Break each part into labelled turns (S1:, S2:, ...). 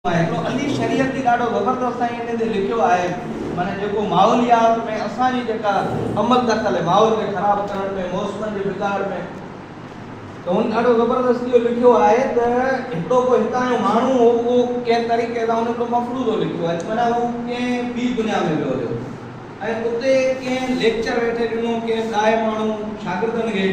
S1: هڪڙو Ali Shariati جي ڏاڍو زبردست سائين انهي تي لکيو آهي معنيٰ جيڪو ماحوليات ۾ اسان جي جيڪا عمل دخل هي ماحول کي خراب ڪرڻ ۾ موسمن جي بگاڙ ۾ ته هن ڏاڍو زبردست اهو لکيو آهي ته هڪڙو ڪو هتان جو ماڻهو هو اهو ڪنهن طريقي سان هن هڪڙو مفروضو لکيو آهي معنيٰ هو ڪنهن ٻي دنيا ۾ ويو هيو ۽ اتي ڪنهن ليڪچر ويٺي ڏنو ڪنهن ڏاهي ماڻهو شاگردن کي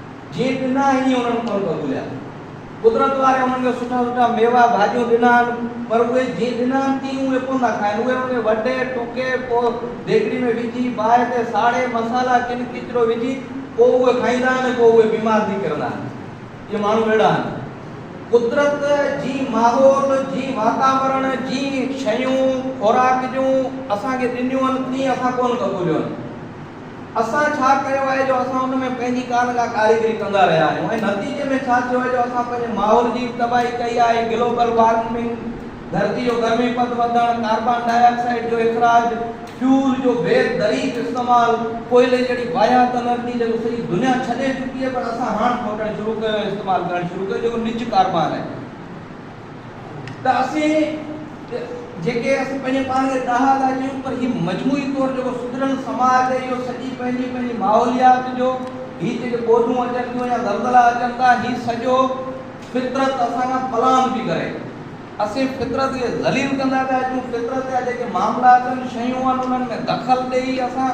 S1: جيئن ڏنا ائين انهن ڦل ڀڳوليا. قدرت واري انهن کي سٺا سٺا ميوا، ڀاڄيون ڏنائن، پر اهي جيئن ڏنائن تيئن اهي ڪونه ٿا کائن. اهي انهن کي وڍي، ٽوڪي، پوء ديڳڙي ۾ وجهي، باهه تي ساڙي، مصالحا ڪن ڪچرو وجهي، پوء اهي کائيندا آهن ۽ پوء اهي بيمار ٿي ڪرندا آهن. اهي ماڻهو اهڙا آهن. قدرت جي ماحول، جي واتاورڻ، جي شيون، خوراڪ جون اسان کي ڏنيون آهن، تيئن اسان ڪونه ڀڳوليون آهن. اسان ڇا ڪيو آهي جو اسان ان ۾ پنهنجي ڪا نه ڪا ڪاريگري ڪندا رهيا آهيون ۽ نتيجي ۾ ڇا ٿيو آهي جو اسان پنهنجي ماحول جي به تباهي ڪئي آهي، گلوبل وارمنگ، ڌرتي جو گرمي پد وڌڻ، ڪاربان ڊاء آڪسائيڊ جو اخراج، فيول جو بي دريق استعمال، ڪوئلي جهڙي واهيات انرجي جيڪو سڄي دنيا ڇڏي چڪي آهي پر اسان هاڻ کوٽڻ شروع ڪيو ۽ استعمال ڪرڻ شروع ڪيو جيڪو نج ڪاربان آهي. ته اسين جيڪي اسين پنهنجي پاڻ کي ڏاها ٿا ڪيون پر هي مجموعي طور جيڪو سڌريل سماج آهي اهو سڄي پنهنجي پنهنجي ماحوليات جو هي جيڪي ٻوڏون اچن ٿيون يا زلزلا اچن ٿا هي سڄو فطرت اسان کان پلان پي ڪري اسين فطرت کي ذليل ڪندا پيا اچون فطرت جا جيڪي معاملا اچن شيون آهن انهن ۾ دخل ڏئي اسان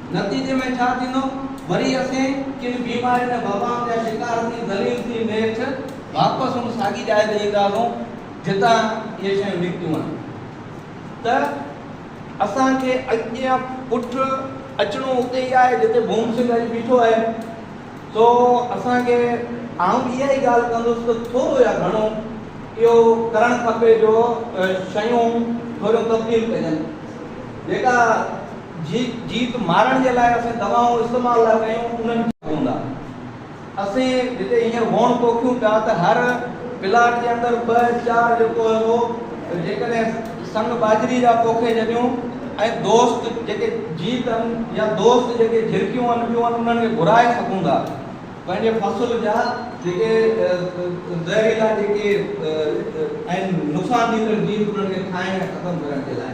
S1: نتيجي ۾ ڇا ٿيندو؟ وري اسين ڪن بيمارين ۽ وبائن جا شڪار ٿي ذليل ٿي نيٺ واپس ان ساڳي جاء تي اينداسون جتان اهي شيون نڪتيون آهن ته اسان کي اڳيان پٺ اچڻو اتي ئي آهي جتي ڀوم سنگهه اڄ بيٺو آهي سو اسان کي آئون اها ئي ڳالهه ڪندس ته ٿورو يا گهڻو اهو ڪرڻ کپي جو شيون ٿوريون تبديل ڪجن جيڪا جي جيت مارڻ جي لاء اسين دوائون استعمال ٿا ڪيون انهن کي پوندا اسين جتي هينئر هوڻ پوکيون پيا ته هر پلاٽ جي اندر ٻه چار جيڪو هي اهو جيڪڏهن سنگ ٻاجهري جا پوکي جڏيون ۽ دوست جيڪي جيت ان يا دوست جيڪي جهرڪيون ان ٻيون ان انهن کي گهرائي سگهون ٿا پنهنجي فصل جا جيڪي زهريلا جيڪي آهن نقصان ڏيندڙ جيت انهن کي کائڻ ۽ ختم ڪرڻ جي لاء.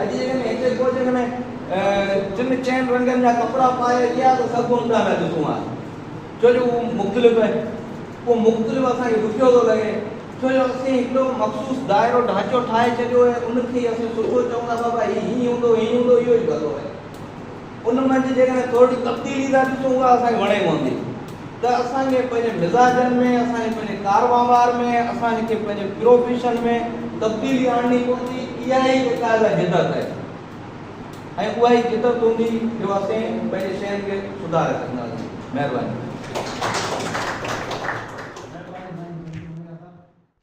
S1: اڄ جي هن هيٺئين ڪوچنگ ۾ ٽن چئن رنگن جا ڪپڙا پائي اچي ها ته سڀ ڪو اونڌا پيا ڏسون ها ڇو جو اهو مختلف آهي اهو مختلف اسان کي ڏکيو ٿو لڳي ڇو جو اسين هڪڙو مخصوص دائرو ڍانچو ٺاهي ڇڏيو آهي ان کي اسين سٺو چئون ٿا بابا هي هيئن هوندو هيئن هوندو اهو ئي ڀلو آهي. ان منجھ جيڪڏهن ٿورڙي تبديلي ٿا ڏسون اها اسان کي وڻي پوندي ته اسان کي پنهنجي مزاجن ۾ اسان کي پنهنجي ڪار وهنوار ۾ اسان کي پنهنجي پروفيشن ۾ تبديلي آڻڻي پوندي اها ئي جيڪا آهي سا جدت آهي ۽ اها ئي جدت هوندي جو اسين پنهنجي شين کي سڌاري سگهنداسين مهرباني.